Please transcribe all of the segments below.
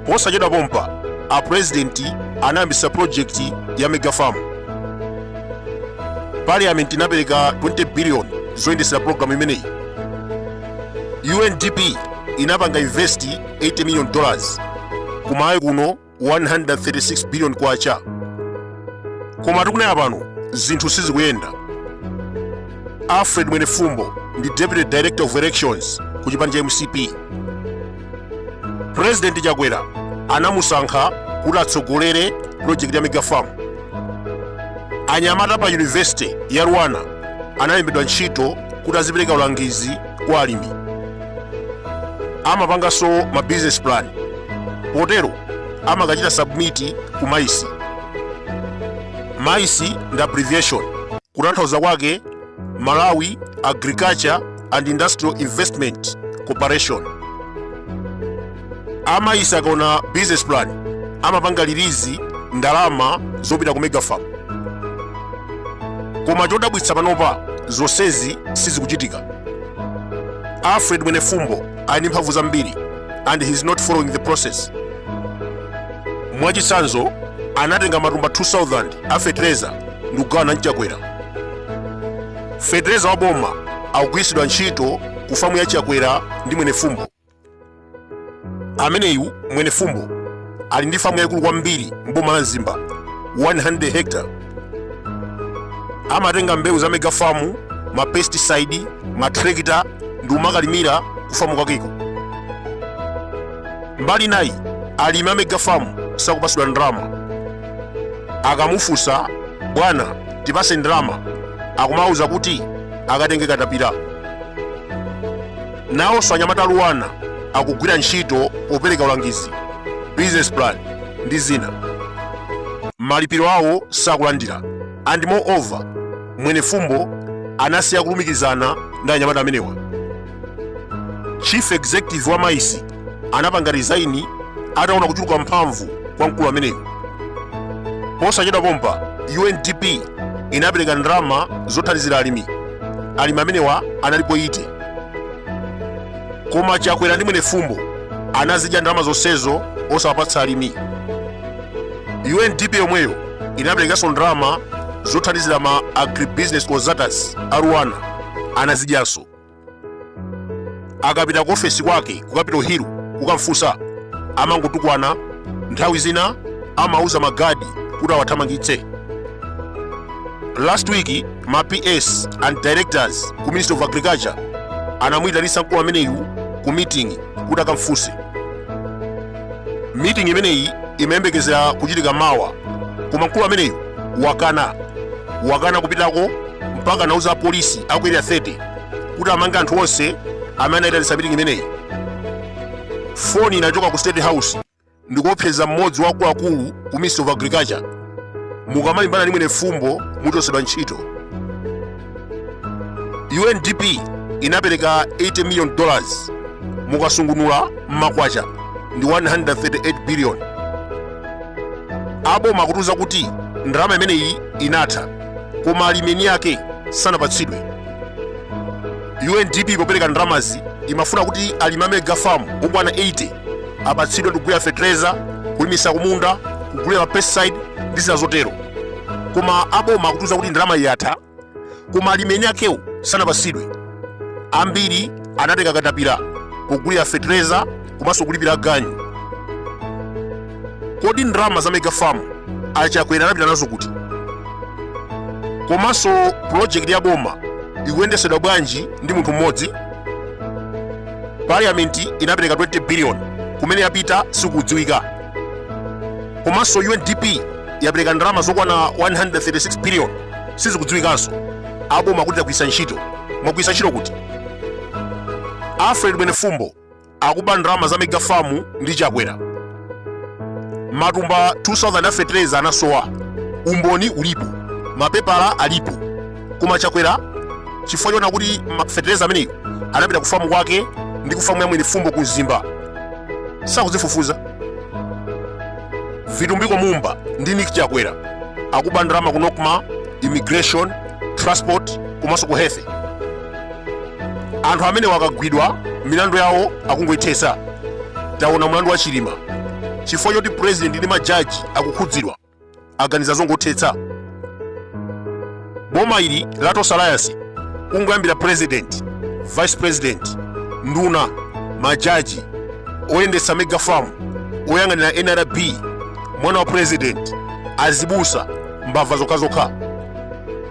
posachedwa pompa a purezidenti anayambisa project ya megafarm parliament inapereka 20 billion zoyendesera programu imeneyi undp inapanga invest 80 million dollars kuMalawi kuno 136 billion kwacha koma tikunena pano zinthu sizikuyenda alfred mwenefumbo ndi deputy director of elections ku chipani cha mcp purezidenti chakwera anamusankha kuti atsogolere pulojekiti ya megafarm anyamata pa yunivesite ya LUANAR analembedwa ntchito kuti azipereka ulangizi kwa alimi amapanganso ma business plan potero amakachita submit ku MAIIC MAIIC ndi abbreviation kutanthauza kwake malawi agriculture and industrial investment corporation a MAIIC akaona business plan amapanga release ndalama zopita ku megafarm koma chodabwitsa panopa zonsezi sizikuchitika alfred mwenefumbo ali ndi mphamvu zambiri and he is not following the process mwachitsanzo anatenga matumba 2000 a fetereza ndi kugawana ndi chakwera fetereza wa boma akugwiritsidwa ntchito ku famu ya chakwera ndi mwenefumbo ameneyu mwenefumbo ali ndi famu yayikulu kwambiri mboma la mzimba 100 hectare amatenga mbewu za mega famu ma pesticide ma trekita ndi kumakalimira ku famu kwakeko mbali nayi alimi a mega famu sakupasidwa ndalama akamufunsa bwana tipase ndalama akumawuza kuti akatenge katapira Nawonso anyamata a LUANAR akugwira ntchito popereka ulangizi, business plan ndi zina. Malipiro awo sakulandira and more over Mwenefumbo anasiya kulumikizana ndi anyamata amenewa. Chief Executive wa MAIIC anapanga resign ataona kuchuluka mphamvu kwa mkulu ameneyu. Posachedwa pompa UNDP inapereka ndalama zothandizira alimi. Alimi amenewa analipo 80. koma chakwera ndi Mwenefumbo anazidya ndalama zonsezo osawapatsa alimi undp yomweyo inaperekanso ndalama zothandizira ma agribusiness consultants a rwanda anazidyanso akapita ku ofesi kwake ku capital hill kukamfunsa amangotukwana nthawi zina amauza magadi kuti awathamangitse last week ma ps and directors ku ministry of agriculture anamuyitanisa mkulu ameneyu ku meeting kuti akamfunse meeting imeneyi imayembekezera kuchitika mawa koma mkulu ameneyu wakana wakana kupitako mpaka anauza apolisi aku area 30 kuti amange anthu onse amene anayitanisa meeting imeneyi foni inachoka ku state house ndikuopseza mmodzi wa akuluakulu ku ministry of agriculture mukamalimbana ndi Mwenefumbo muchosedwa ntchito undp inapereka 80 million dollars mukasungunula mmakwacha ndi 138 billion aboma akutiuza kuti ndalama imeneyi inatha koma alimi eni ake sanapatsidwe undp popereka ndalamazi imafuna kuti alimi a megafamu okwana 80 apatsidwe ndikugulira fetereza kulimisa kumunda kugulira mapesticide ndi zina zotero koma aboma akutiuza kuti ndalama yatha koma alimi eni akewo sanapatsidwe ambiri anatenga katapira pogulira fetereza komanso kulipira ganyu kodi ndalama za mega farm achakwera anapita nazo kuti komanso pulojekiti ya boma ikuyendetsedwa bwanji ndi munthu mmodzi parliament inapereka 20 billion kumene yapita sikudziwika komanso undp yapereka ndalama zokwana 136 billion sizikudziwikanso aboma akuti tagwiritsa ntchito mwagwiritsa ntchito kuti alfred mwenefumbo akuba ndalama za megafamu ndi chakwera matumba 2000 a fetereza anasowa umboni ulipo mapepala alipo koma chakwera chifukwa choona kuti ma- fetereza ameneyo anapita ku famu kwake ndi ku famu ya Mwenefumbo ku mzimba sakuzifufuza vitumbiko mumba ndi nick chakwera akuba ndalama ku NOCMA immigration transport komanso ku health anthu amenewa akagwidwa milandu yawo akungoithesa taona mlandu wa chilima chifukwa choti president ndi majaji akukhudzidwa aganiza zongothetsa boma ili la Tonse Alliance kungoyambira president vice president nduna majaji oyendetsa mega farm oyang'anira nrb mwana wa president azibusa mbava zokhazokha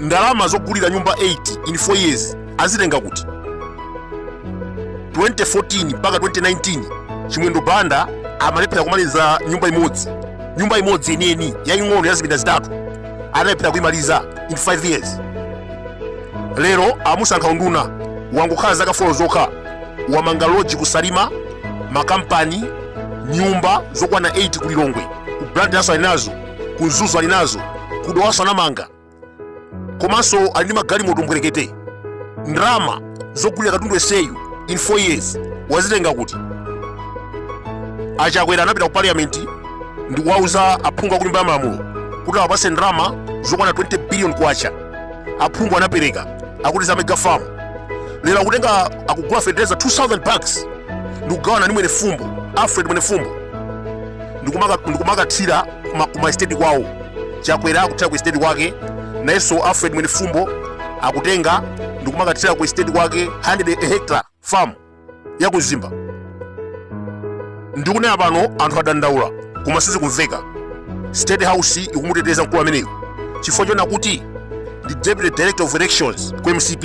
ndalama zogulira nyumba 8 in 4 years azitenga kuti 2014 mpaka 2019 chimwendo banda amalephera kumaliza nyumba imodzi nyumba imodzi yeniyeni yaing'ono ya zipinda zitatu analephera kuimaliza in 5 years lero amusankha unduna wangokhala zaka 4 zokha wamanga loji ku salima makampani nyumba zokwana 8 ku lilongwe ku blantyre-so alinazo ku mzuzu alinazo ku dowaso anamanga komanso ali ndi magalimoto mbwerekete ndalama zogulira katundu eseyu in 4 years wazitenga kuti achakwera anapita ku parliament ndi kuwauza aphungu a kunyumba ya malamulo kuti awapase ndalama zokwana 20 billion kwacha aphungu anapereka akuti za mega farm lero akutenga akugula fertilizer 2000 bags ndikugawana ndi mwenefumbo alfred mwenefumbo ndikumakathira kuma estate kwawo chakwera akuthira ku estate kwake nayenso alfred mwenefumbo akutenga ndikumakathira ku estate kwake 100 hectare farm ya ku mzimba ndikunena pano anthu adandaula koma sizikumveka state house ikumuteteza mkulu ameneyo chifukwa choona kuti ndi deputy director of elections ku mcp